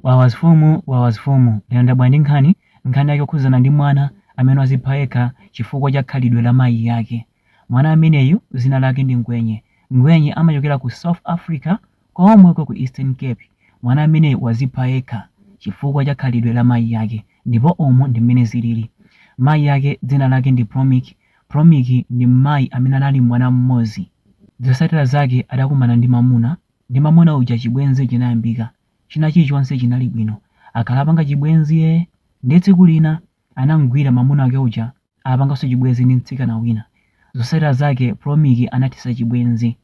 Wawa mafumu wawa mafumu lero ndabwera ndi nkhani, nkhani yake yokhudzana ndi mwana amene wazipha yekha chifukwa cha khalidwe la mayi ake. Mwana ameneyu zina lake ndi Ngwenye, Ngwenye amachokera ku South Africa komweko ku Eastern Cape. Mwana ameneyu wazipha yekha chifukwa cha khalidwe la mayi ake ndipo umu ndi mmene zilili. Mayi ake dzina lake ndi Promiki, Promiki ndi mmayi amene anali ndi mwana mmodzi. Zosatira zake adakumana ndi mamuna, ndi mamuna uja chibwenzi chinayambika. china chilichonse chinali bwino. Akhala apanga chibwenzi ee, ndiye tsiku lina anamgwira mamuna wake uja apanganso chibwenzi ndi mtsikana wina. Zotsatira zake Promiki anathetsa chibwenzi.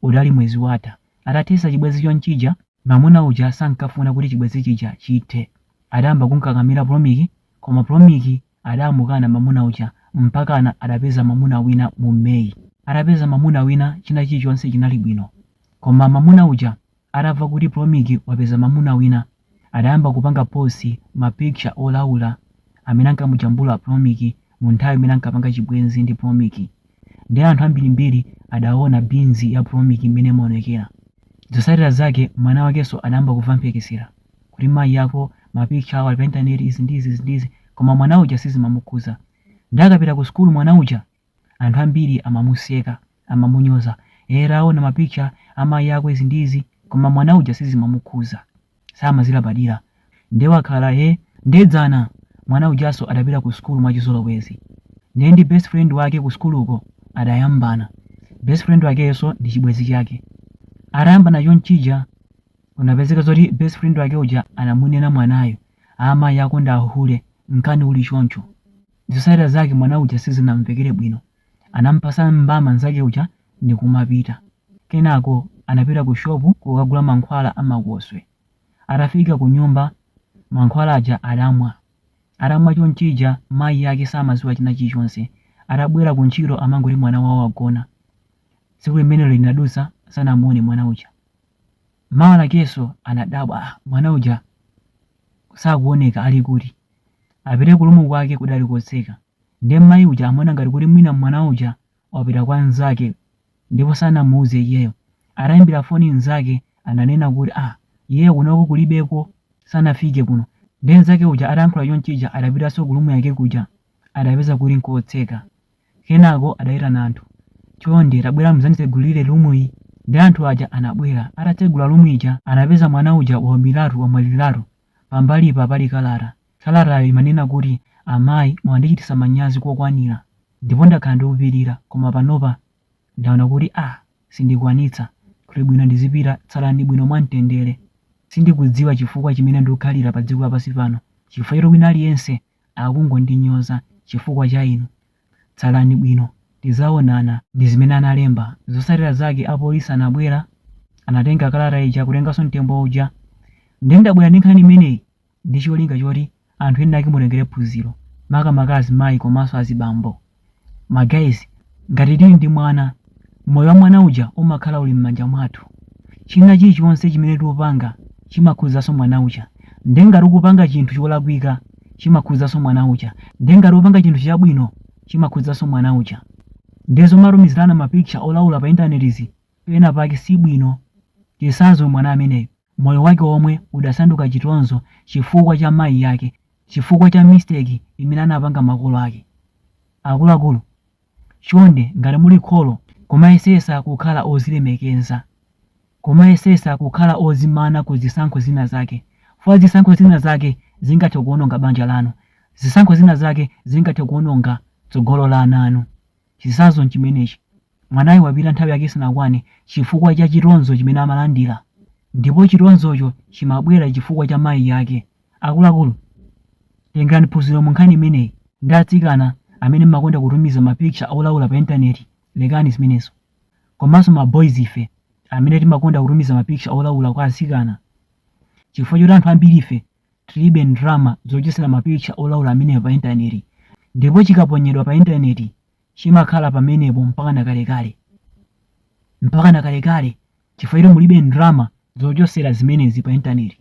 Udali mwezi watha. Atathetsa chibwenzi chonchija, mamuna uja sankafuna kuti chibwenzi chija chithe. Adayamba kumkakamira Promiki koma Promiki adamukana mamuna uja mpakana adapeza mamuna wina mu May. Atapeza mamuna wina china chilichonse chinali bwino. Koma mamuna uja Atamva kuti Promiki wapeza mamuna wina, adayamba kupanga post ma picture olaula amene ankamujambula Promiki mu nthawi imene ankapanga chibwenzi ndi Promiki. Nde anthu ambirimbiri adaona beans ya Promiki mmene imaonekera. Zosatira zake mwana wakenso adayamba kumva mphekesera kuti mayi ako ma picture awo ali pa internet izi ndi izi izi ndi izi koma mwana uja sizimamukhuza. Nde akapita ku school mwana uja Anthu ambiri amamuseka, amamunyoza, ee taona ma picture a mayi ako izi ndi izi koma mwana uja sizimamukhuza, samazilabadira nde wakhala he nde dzana mwana ujanso adapita ku sukulu mwachizolowezi nde ndi best friend wake ku sukuluko adayambana, best friend wakeyonso ndi chibwenzi chake, atayambana chonchija kunapezeka zoti best friend wake uja anamunena mwanayo, aa mayi ako ndi a hule, nkhani uli choncho. Zotsatira zake mwana uja sizinamvekere bwino. Anampatsa mbama nzake uja ndikumapita. Kenako anapita ku shopu kukagula mankhwala a makoswe. Atafika kunyumba mankhwala aja adamwa. Atamwa chonchija mayi ake samadziwa china chilichonse. Atabwera ku ntchito amangoti mwana wawo wagona. Tsiku limenelo linadutsa sanamuone mwana uja. Mawa lakenso anadabwa, ah mwana uja sakuoneka ali kuti? apite ku lumu kwake kudali kotseka nde mmayi uja amaona ngati kuti mwina mwana uja wapita kwa nzake ndipo sanamuuze iyeyo ataimbira foni nzake ananena kuti ah iyeyo kunoko kulibeko sanafike kuno nde nzake uja atayankhula chonchija adapitanso ku lumu yake kuja adapeza kuti nkotseka kenako adaitana anthu chonde tabwerani muzanditsegulire lumuyi nde anthu aja anabwera atatsegula lumu ija anapeza mwana uja waumiratu wamwaliratu Pambalipa pali kalata. Kalatayo imanena kuti, Amayi mwandichititsa manyazi kokwanira ndipo ndakhala ndikupirira, koma panopa ndaona kuti ah sindikwanitsa. Kuti bwino ndizipita. Tsalani bwino mwamtendere. Sindikudziwa chifukwa chimene ndikukhalira padziko lapansi pano chifukwa choti wina aliyense akungondinyoza chifukwa cha inu. Tsalani bwino tizaonana ndi zimene analemba. Zotsatira zake apolisi anabwera anatenga kalata ija kutenganso mtembo uja nde ndabwera ndi nkhani imeneyi ndi cholinga choti anthu ena ake mutengere phunziro makamaka azimayi komanso azibambo. ma guys ngati tili ndi mwana moyo wa mwana uja umakhala uli m'manja mwathu china chilichonse chimene tikupanga chimakhudzanso mwana uja nde ngati ukupanga chinthu cholakwika chimakhudzanso mwana uja nde ngati ukupanga chinthu chabwino chimakhudzanso mwana uja nde zomatumizirana ma picture olaula pa intanetizi pena pake si bwino chisanzo mwana ameneyo Moyo wake omwe udasanduka chitonzo chifukwa cha mayi ake, chifukwa cha mistake imene anapanga makolo ake. Akuluakulu, chonde ngati muli kholo kumayesesa kukhala ozilemekeza, kumayesesa kukhala ozimana ku zisankho zina zake, fukwa zisankho zina zake zingathe kuononga banja lanu, zisankho zina zake zingathe kuononga tsogolo la ana anu. Chisanzo chimenechi. Mwanayo wapita nthawi yake isanakwane chifukwa cha chitonzo chimene amalandira ndipo chitonzocho chimabwera chifukwa cha mayi ake. Akuluakulu, tengerani phunziro munkhani imeneyi. Ndi atsikana amene mmakonda kutumiza ma picture olaula pa internet lekani zimenezo. Komanso ma boys ife amene timakonda kutumiza ma picture olaula kwa atsikana chifukwa choti anthu ambirife tilibe ndrama zochotsera ma picture olaula amenewa pa internet ndipo chikaponyedwa pa internet chimakhala pamenepo mpakana kalekale, mpakana kalekale, chifukwa choti mulibe ndrama zochosera zimenezi pa intaneti.